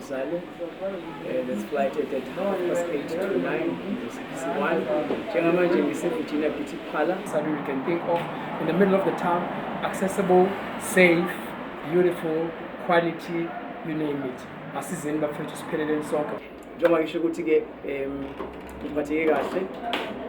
Zalo, uh, this flight at that half past eight to nine, one. Njengamanje ngiseVirginia Beauty Parlor, something you can think of in the middle of the town, accessible, safe, beautiful, quality, you name it. Asizeni bafethu sipheleleni sonke. Njengoba ngisho ukuthi ke um ngiphatheke kahle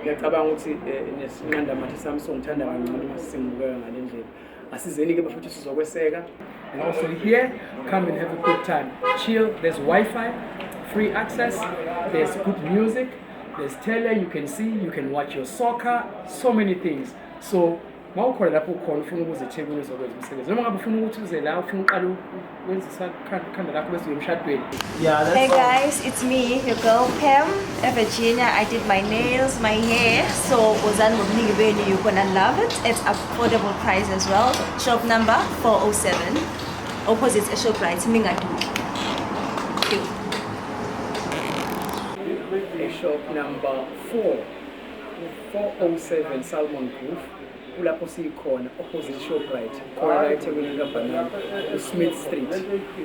ngiyacabanga ukuthi eh, nesinqandamathe sami songithanda kangcono uma sisengibukeka ngale ndlela asizeni-ke bafethu sizokweseka and also here come and have a good time chill there's wi-fi free access there's good music there's tele you can see you can watch your soccer so many things so mawukhona lapho ukhona ufuna ukuze ethekwini uzokwenza umsebenzi noma ngabe ufuna ukuthi uze la ufuna uqala wenzisa ikhanda lakho bese uyemshadweni yeah, hey guys it's me your girl pam evirginia i did my nails my hair so wozani ngobuningi benu you're gonna love it at affordable price as well shop number 407 opposite eshoprite mingaduki shop number 4 407 salmon grove kulapho siyikhona opposite shoprite khona la ethekwini likabhanana usmith street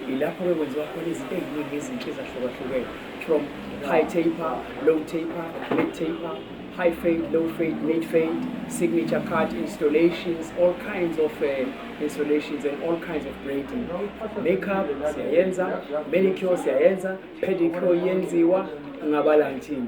yilapho-ke kwenziwa khona izinto eziningi ezinhle ezahlukahlukene from high taper low taper mid taper high fade low fade mid fade signature card installations all kinds of uh, installations and all kinds of braiding makeup siyayenza manicure siyayenza pedicure yenziwa ngabala ngithini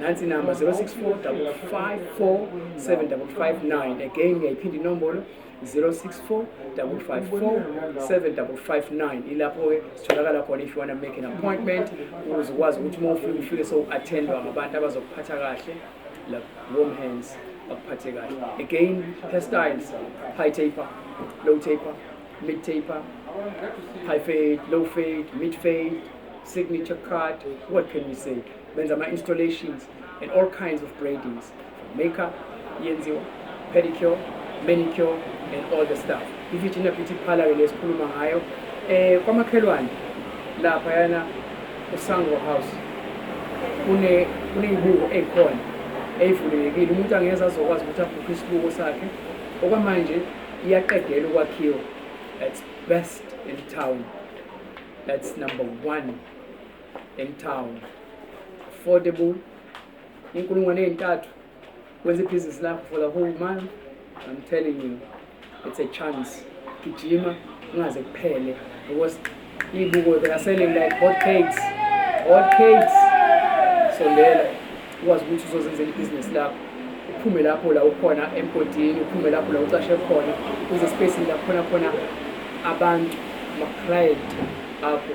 nansi inamba 0645547559 again ngiyayiphinda inombolo 0645547559 ilapho-ke sitholakala khona if you want to make an appointment ukuze ukwazi ukuthi uma ufike ufike sowu-attendwa ngabantu abazokuphatha kahle like warm hands bakuphathe kahle again hairstyles high taper low taper mid taper high fade low fade mid fade signature card what can we say benza ama-installations and all kinds of braidings makeup yenziwa pedicure manicure and all the stuff i-virginia beauty parlor le sikhuluma ngayo um eh, kwamakhelwane laphayana usango house kuney'buko ey'khona ey'vulelekile umuntu angeza azokwazi ukuthi abhukhe isibuko sakhe okwamanje iyaqedela ukwakhiwa that's best in town that's number one in town affordable inkulungwane ezintathu wenza ibhizinisi lakho for the whole month i'm telling you it's a chance gijima ungaze kuphele because ibuko they are selling like hot cakes hot cakes sondela ukwazi ukuthi uzozenzela ibhizinisi lakho uphume lapho la ukhona emgodini uphume lapho la ucashe khona uze space la khona khona abantu ama-client akho